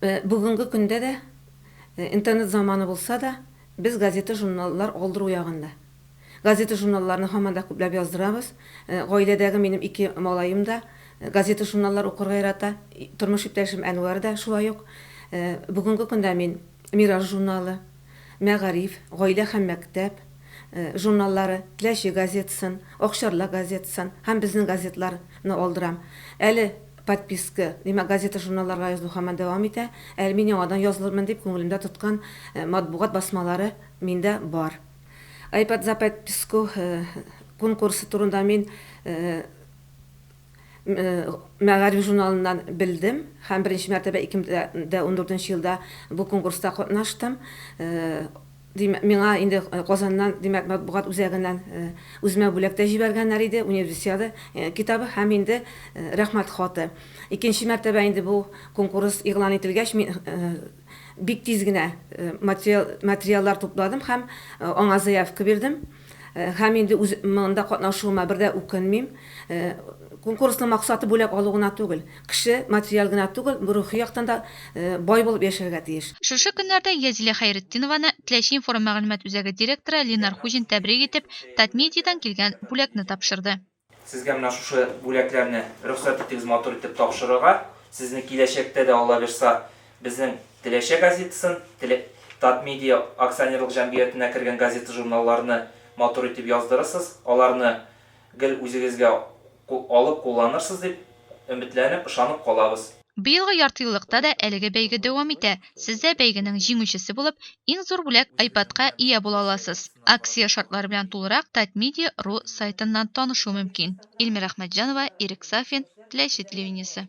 Бүгенге көндә дә, интернет заманы булса да, без газета-журналлар алдыру ягында. Газета-журналларны һаман да күпләп яздырабыз. Гаиләдәге минем ике малаем да газета-журналлар укырга ярата, тормыш иптәшем Әнвәр дә шулай ук. Бүгенге көндә мин Мираж журналы, Мәгариф, Гаилә һәм мәктәп журналлары, Теләче газетасын, Акчарлак газетасын һәм безнең газетларны алдырам. Әле Подписка, димәк, газета-журналларга язылу һаман дәвам итә. Әле мин яңадан язылырмын дип күңелемдә тоткан матбугат басмалары миндә бар. Айпад за подписку конкурсы турында мин Мәгариф журналыннан белдем һәм беренче мәртәбә 2014 елда бу конкурста катнаштым. Ди, миңа инде Казаннан, димәк, матбугат үзәгеннән үземә бүләк тә җибәргәннәр иде, Универсиада китабы һәм инде Рәхмәт хаты. Икенче мәртәбә инде бу конкурс игълан ителгәч, мин бик тиз генә материаллар тупладым һәм аңа заявка бирдем. Һәм инде үз монда катнашуыма бер дә үкенмим. Конкурсның максаты бүләк алу гына түгел. Кеше материаль гына түгел, рухи яктан да бай булып яшәргә тиеш. Шушы көннәрдә Язилә Хәйретдинованы Теләче информ мәгълүмат үзәге директоры Линар Хуҗин тәбрик итеп, Татмедиадан килгән бүләкне тапшырды. Сезгә менә шушы бүләкләрне рөхсәт итегез матур итеп тапшырырга. Сезне киләчәктә дә Алла бирса безнең Теләчә газетасын, Татмедиа акционерлык җәмгыятенә кергән газета-журналларны матур итеп яздырырсыз, аларны гел үзегезгә алып кулланырсыз дип өметләнеп, ышанып калабыз. Быелгы яртыеллыкта да әлеге бәйге дәвам итә. Сез дә бәйгенең җиңүчесе булып, иң зур бүләк, айпадка ия була аласыз. Акция шартлары белән тулырак Татмедиа ру сайтыннан танышу мөмкин. Ильмира Ахмәтҗанова, Ирек Сафин, Теләче телевидениесе.